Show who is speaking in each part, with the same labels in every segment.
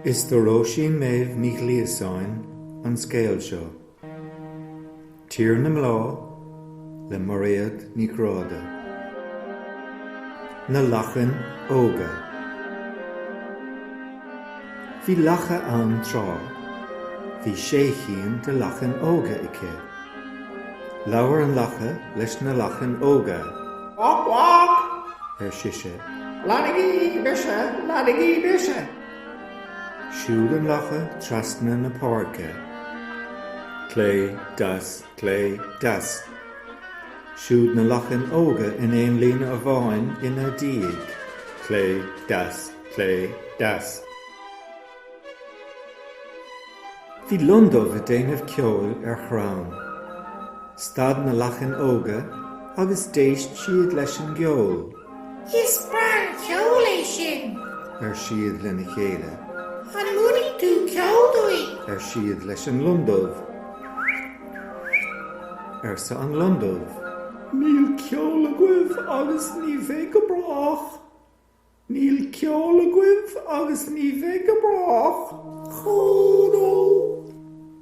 Speaker 1: Is do Róisín Méabh Ní Ghliasáin an scéal seo, Tír na mBláth le Mairéad Ní Ghráda. Na Lachain Óga. Bhí lacha ann tráth. Bhí sé chinn de lachain óga aici. Labhair an lacha leis na lachain óga. Vác vác! ar sise. Leanaigí mise! Leanaigí mise! Siúd an lacha trasna na páirce. Clé, deas, clé, deas. Siúd na lachain óga in aon líne amháin ina diaidh. Clé, deas, clé, deas. Bhí lon dubh ag déanamh ceoil ar chrann. Stad na lachain óga agus d'éist siad leis an gceol. Is breá an ceol é sin! ar siad lena chéile. An múinfidh tú ceol dúinn? ar siad leis an lon dubh. arsa an lon dubh. Níl ceol agaibh agus ní bheidh go brách! Níl ceol agaibh agus ní bheidh go brách. Ochón ó!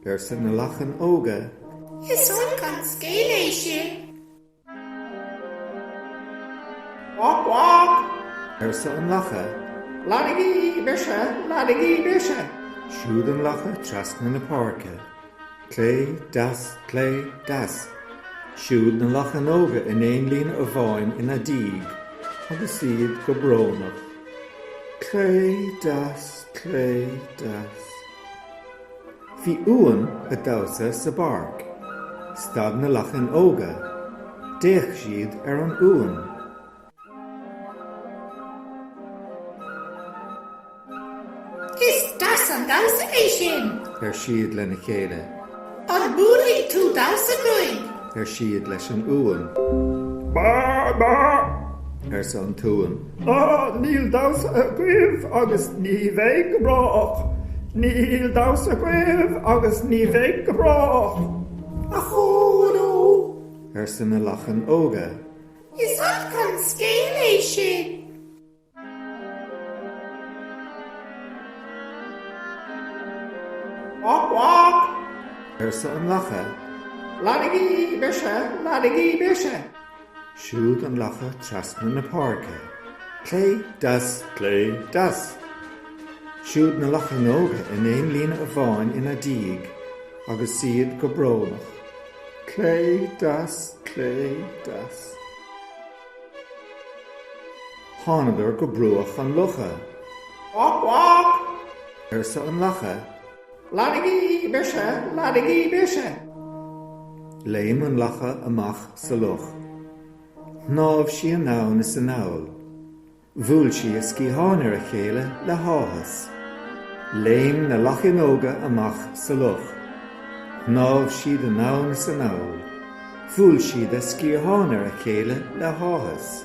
Speaker 1: arsa na lachain óga. Is olc an scéal é sin. Vác vác! arsa an lacha. Leanaigí mise! Leanaigí mise! Siúd an lacha trasna na páirce. Clé, deas, clé, deas. Siúd na lachain óga in aon líne amháin ina diaidh agus iad go brónach. Clé, deas, clé, deas. Bhí uan ag damhsa sa bpáirc. Stad na lachain óga. D'fhéach siad ar an uan. Is deas an damhsa é sin! ar siad lena chéile. An múinfidh tú damhsa dúinn? ar siad leis an uan. Bá! Bá! arsa an t-uan. Á, níl damhsa agaibh agus ní bheidh go brách! Níl damhsa agaibh agus ní bheidh go brách! Ochón ó! arsa na lachain óga. Is olc an scéal é sin. Vác vác! arsa an lacha. Leanaigí mise, leanaigí mise! Siúd an lacha trasna na páirce. Clé, deas, clé, deas! Siúd na lachain óga in aon líne amháin ina diaidh agus iad go brónach. Clé, deas, clé, deas. Thángadar go bruach an locha. Vác, vác! arsa an lacha. Leanaigí mise, leanaigí mise! Léim an lacha amach sa loch. Shnámh sí anonn is anall. Bhuail sí a sciatháin ar a chéile le háthas. Léim na lachíní óga amach sa loch. Shnámh siad anonn is anall. Bhuail siad a sciatháin ar a chéile le háthas.